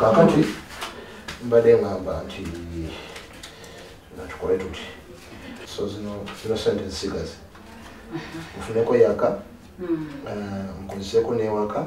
kakati mbadde ngamba nti natukole tuti so zino zino sente zisigaze nfuneko yaka nkozeseko newaka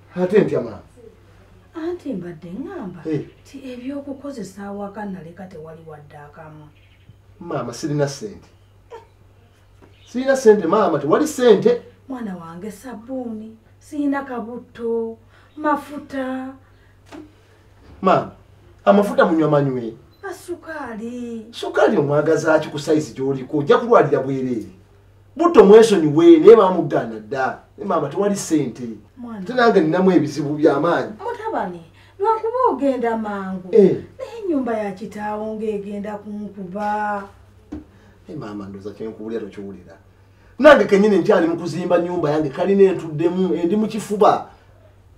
ate ntya maama anti mbadde ŋŋamba eh. ti ebyokukozesa awaka naleka tewali wadde akamu maama sirina sente sirina sente maama tewali sente mwana wange sabbuuni sirina kabutto mafuta maama amafuta munywa manywe asukaali sukaali omwagazaaki ku sayizi gy'oliko ojja kulwalira bwereere butto mwesonyiwe naye bamugaana dda naye maama tewali ssente te nange ninamu ebizibu byamaanyi mutabani lwakuba ogenda mangu eh. naye enyumba ya kitaawo ngaegenda kunkuba naye maama ndoza kyenkuwulira tokiwulira nange kenyini nkyali mu kuzimba nyumba yange kalina entuddemu endi mu kifuba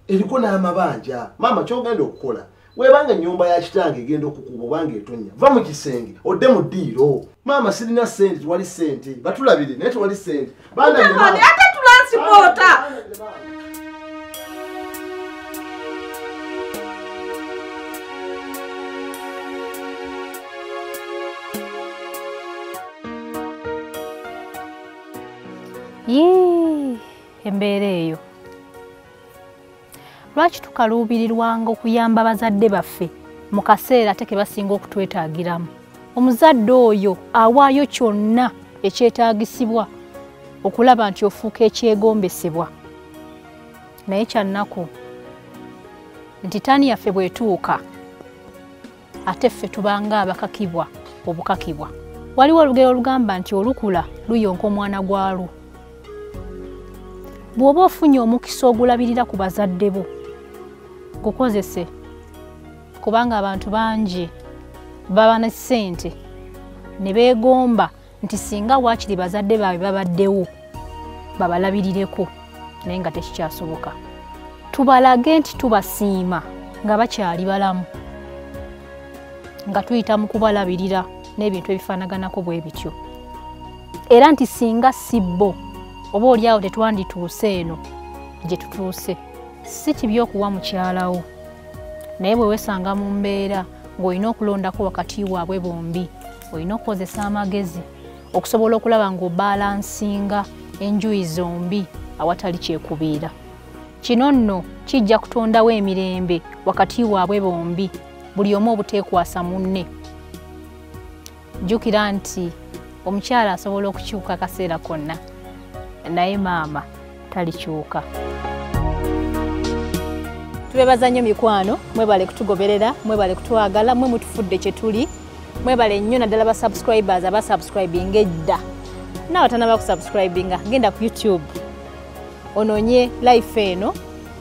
eriko n'amabanja maama kyogenda okukola webanga enyumba ya kitange egenda okukuba obanga etonya va mu kisenge odde mu ddiiro maama sirina sente tewali sente batulabire naye tewali sente ate tulansipoota yii embeera eyo lwaki tukaluubirirwanga okuyamba bazadde baffe mu kaseera ate ke basinga okutwetaagiramu omuzadde oyo awaayo kyonna ekyetaagisibwa okulaba nti ofuuka ekyegombesebwa naye kyannaku nti taani yaffe bwetuuka ate ffe tubanga abakakibwa obukakibwa waliwo olugero olugamba nti olukula luyonka omwana gwalwo bw'oba ofunye omukisa ogulabirira ku bazadde bo gukozese kubanga abantu bangi baba ne ssente ne beegomba nti singa waakiri bazadde baabwe babaddewo babalabirireko naye nga tekikyasoboka tubalage nti tubasiima nga bakyali balamu nga tuyita mu kubalabirira n'ebintu ebifaanaganako bwe bityo era nti singa si bo oba olyawo tetwandituuse eno gye tutuuse si kibi okuwa mukyalawo naye bwe weesanga mu mbeera ng'olina okulondako wakati waabwe bombi olina okukozesa amagezi okusobola okulaba ng'obalansinga enjuyi zombi awatali kyekubiira kino nno kijja kutondawo emirembe wakati waabwe bombi buli omu obuteekwasa munne jjukira nti omukyala asobola okukyuka akaseera konna naye maama talikyuka tubebaza nnyo mikwano mwebale kutugoberera mwebale kutwagala mwe mutufudde kyetuli mwebale nnyo naddala ba subscribers aba subscribing edda naawe tanaba ku subscribinga genda ku youtube ononye life eno